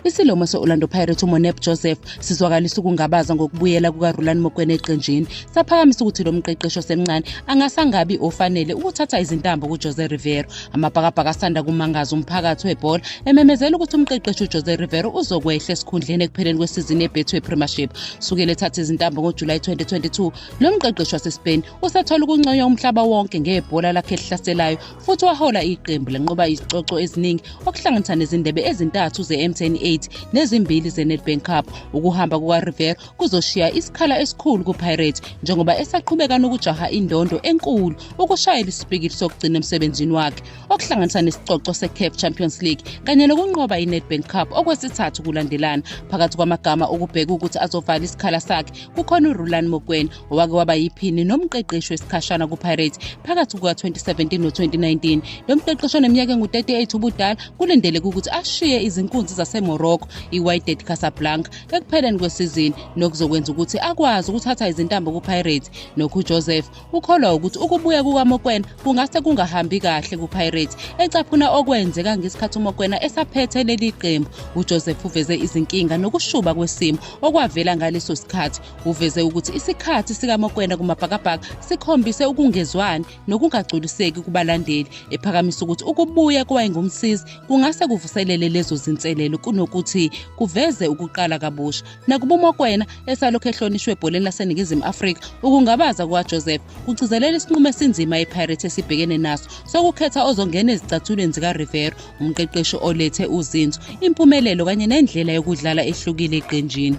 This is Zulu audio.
Isilomo se-Orlando Pirates uMonep Joseph sizwakalisa ukungabaza ngokubuyela kukaRulani Mokwena eqenjini. Saphakamisa ukuthi lo mqeqeshi osemncane angase angabi ofanele ukuthatha izintambo kuJose Rivero. Amabhakabhaka asanda kumangaza umphakathi webhola ememezela ukuthi umqeqeshi uJose Rivero uzokwehla esikhundleni ekupheleni kwesizini yeBetway Premiership. Sukela ethatha izintambo ngoJulayi 2022, lo mqeqeshi waseSpain usethola ukunconywa umhlaba wonke ngebhola lakhe elihlaselayo futhi wahola iqembu lenqoba izicoco eziningi okuhlanganisa nezindebe ezintathu ze-mtn 8 nezimbili ze-nedbank cup ukuhamba kukariver kuzoshiya isikhala esikhulu kupirates njengoba esaqhubeka nokujaha indondo enkulu ukushayela isipikili sokugcina emsebenzini wakhe okuhlanganisa nesicoco se-caf champions league kanye nokunqoba i-nedbank cup okwesithathu kulandelana phakathi kwamagama okubheka ukuthi azovala isikhala sakhe kukhona urulan mokweni owake waba yiphini nomqeqeshi wesikhashana kupirates phakathi kuka-2017 no-2019 lo mqeqeshi oneminyaka engu-38 ubudala kulindeleke ukuthi ashiye izinkunzi zasemorocco iwydad casablanca ekupheleni kwesizini nokuzokwenza ukuthi akwazi ukuthatha izintambo kupirates nokho ujoseph ukholwa ukuthi ukubuya kukamokwena kungase kungahambi kahle kupirates ecaphuna okwenzeka ngesikhathi umokwena esaphethe leli qembu ujoseph uveze izinkinga nokushuba kwesimo okwavela ngaleso sikhathi Uveze ukuthi isikhathi sikaMokwena kumaBhakabhaka sikhombise ukungezwani nokungagculiseki kubalandeli, ephakamisa ukuthi ukubuya kowayengumsizi kungase kuvuselele lezo zinselelo kunokuthi kuveze ukuqala kabusha. Nakuba uMokwena esalokhu ehlonishwe ebholeni laseNingizimu Afrika, ukungabaza kukaJoseph kugcizelela isinqumo esinzima iPirates esibhekene naso sokukhetha ozongena ezicathulweni zikaRivero, umqeqeshi olethe uzinzo, impumelelo kanye nendlela yokudlala ehlukile eqenjini.